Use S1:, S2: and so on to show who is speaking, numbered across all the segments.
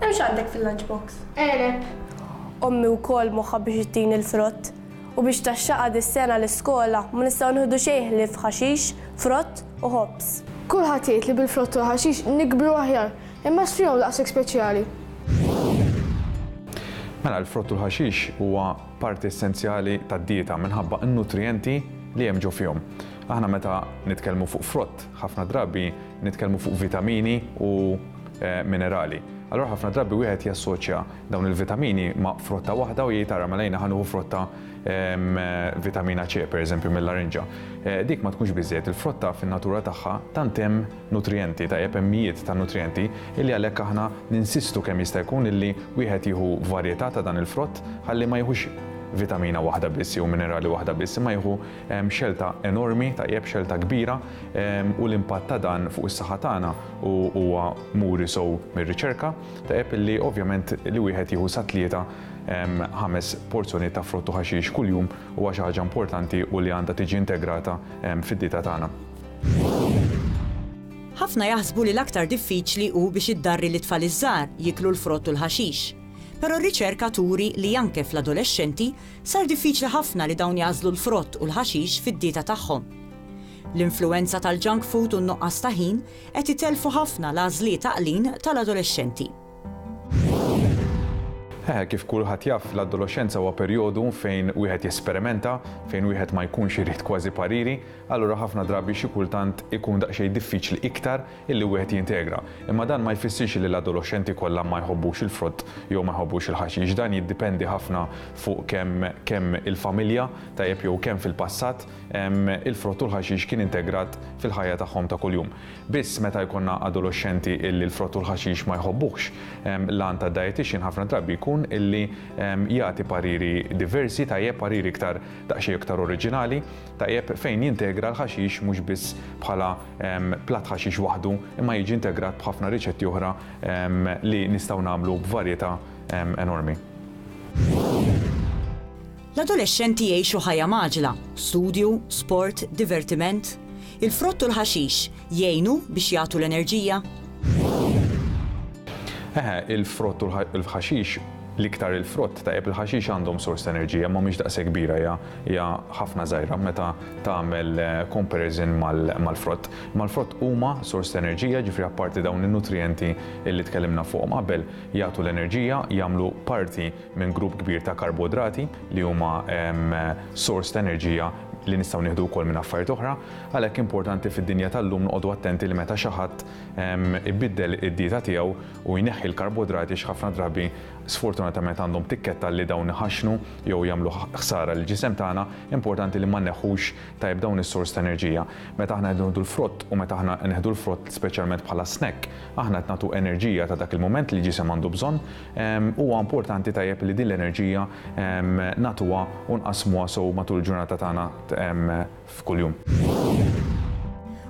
S1: Hemm x'għandek fil-lunchbox? Għeneb.
S2: Ommi
S1: wkoll moħħha biex ittini l-frott. U biex taxxaqha dis-sena l-iskola ma nistgħu nieħdu xejn ħlief ħaxix, frott u ħobż. Kulħadd jgħid li
S2: bil-frott u l-ħaxix nikbru aħjar, imma x'fihom daqshekk speċjali?
S3: Mela l-frott u l-ħaxix huwa parti essenzjali tad-dieta minħabba n-nutrijenti li hemm ġo fihom. Aħna meta nitkellmu fuq frott, ħafna drabi nitkellmu fuq vitamini u minerali. Allura ħafna drabi wieħed jassoċja dawn il-vitamini ma' frotta waħda u jgħid ara mela jiena ħanuħu frotta vitamina C pereżempju mill-larinġa. Eh, dik ma tkunx biżejjed il-frotta fin-natura tagħha tant hemm nutrijenti ta' jepemmijiet ta' nutrijenti illi għalhekk aħna ninsistu kemm jista' jkun illi wieħed jieħu varjetà ta' dan il-frott ħalli ma jieħux vitamina waħda biss jew minerali waħda biss imma jieħu Xelta enormi, tajjeb, xelta kbira, u l-impatt ta' dan fuq is-saħħa tagħna huwa muri sew mir-riċerka, tajjeb, li ovvjament li wieħed jieħu sa tlieta, ħames porzjonijiet ta' frott u ħaxix kuljum huwa xi ħaġa importanti u li għandha tiġi integrata fid-dieta tagħna.
S4: Ħafna jaħsbu li l-aktar diffiċli hu biex iddarri lit-tfal iż-żgħar jieklu l-frott u l-ħaxix. Però r-riċerka turi li anke fl-adolexxenti, Sar diffiċli ħafna li dawn jagħżlu l-frott u l-ħaxix fid-dieta tagħhom. L-influwenza tal-junk food u n-nuqqas ta' ħin qed itellfu ħafna l-għażliet għaqlin tal-adolexxenti.
S3: Hehe, kif kulħadd jaf, l-adoloxxenza huwa perjodu fejn wieħed jesperimenta, fejn wieħed ma jkunx irid kważi pariri, allura ħafna drabi xi kultant ikun daqsxejn diffiċli iktar illi wieħed jintegra, imma dan ma jfissirx li l-adoloxxenti kollha ma jħobbux il-frott jew ma jħobbux il-ħaxix. Dan jiddipendi ħafna fuq kemm kemm il-familja, tajjeb jew kemm fil-passat, il-frott u l-ħaxix kien integrat fil-ħajja tagħhom ta' kuljum. Biss meta jkollna adoloxxenti illi l-frott u l-ħaxix ma jħobbuhx, l-għan tad-dietician ħafna drabi jkun illi jagħti pariri diversi, tajjeb, pariri iktar daqsxejn iktar oriġinali, tajjeb, fejn jintegra l-ħaxix mhux biss bħala Platt ħaxix waħdu imma jiġi integrat b'ħafna riċetti oħra li nistgħu nagħmlu b'varjetà enormi.
S4: L-adolexxenti jgħixu ħajja mgħaġġla, studju, sport, divertiment. Il-frott u l-ħaxix jgħinu biex jagħtu l-enerġija?
S3: Eħe, il-frott u l-ħaxix l-iktar il-frott ta' il-ħaxix għandhom sors ta' enerġija ma mhix daqshekk kbira ja hija ħafna żgħira meta tagħmel comparison mal-frott. Mal-frott huma sors ta' enerġija, ġifri apparti dawn in-nutrijenti li tkellimna fuqhom qabel, jagħtu l-enerġija, jagħmlu parti minn grupp kbir ta' karbodrati li huma sors ta' enerġija li nistgħu nieħdu wkoll minn affarijiet oħra. Għalhekk importanti fid-dinja tal-lum noqogħdu attenti li meta xi ħadd ibiddel id-dieta tiegħu u jneħħi l-karbodrati x'ħafna drabi sfortunatament għandhom tikketta li dawn iħaxxnu jew jagħmlu ħsara lill-ġisem tagħna, importanti li ma nneħħux tajjeb dawn is-sors ta' enerġija. Meta aħna qed nieħdu l-frott u meta aħna nieħdu l-frott speċjalment bħala snack, aħna qed nagħtu enerġija ta' dak il-mument li l-ġisem għandu bżonn. Huwa importanti tajjeb li din l-enerġija nagħtuha u nqassmuha sew matul il-ġurnata tagħna f'kuljum.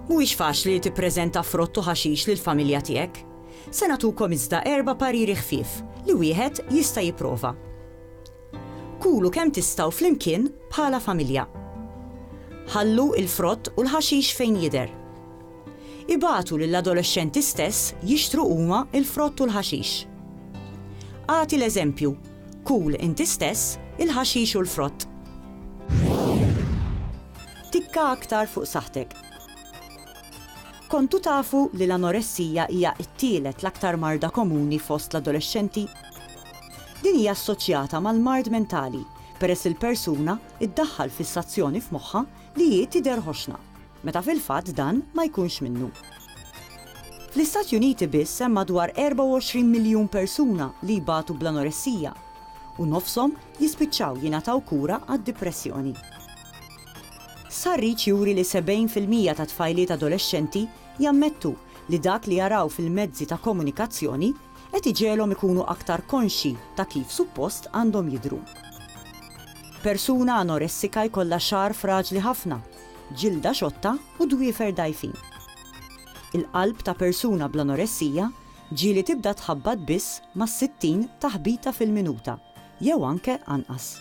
S4: Mhuwiex faċli li tippreżenta frott u ħaxix lill-familja tiegħek. Se nagħtukom iżda erba' pariri ħfief li wieħed jista' jipprova. Kulu kemm tistgħu flimkien bħala familja. Ħallu l-frott u l-ħaxix fejn jidher. Ibagħtu lill-adolexxenti stess jixtru huma l-frott u l-ħaxix. Agħti l-eżempju, kul inti stess il-ħaxix u l-frott. Tikka aktar fuq saħħtek. Kontu tafu li l-anoressija hija t-tielet l-aktar marda komuni fost l-adolexxenti? Din hija assoċjata mal-mard mentali peress il-persuna ddaħħal fissazzjoni f'moħħha li hi tidher ħoxna, meta fil-fatt dan ma jkunx minnu. Fl-Istati Uniti biss hemm madwar 24 miljun persuna li jbatu bl-anoressija u nofshom jispiċċaw jingħataw kura għad-dipressjoni. Stħarriġ juri li 70 fil-mija ta' tfajliet adolexxenti jammettu li dak li jaraw fil-mezzi ta' komunikazzjoni qed iġegħelhom ikunu aktar konxji ta' kif suppost għandhom jidhru. Persuna anoressika jkollha xagħar fraġli ħafna, ġilda xotta u dwiefer dgħajfin. Il-qalb ta' persuna bl-anoressija ġieli tibda tħabbat biss mas-60 taħbita fil-minuta jew anke anqas.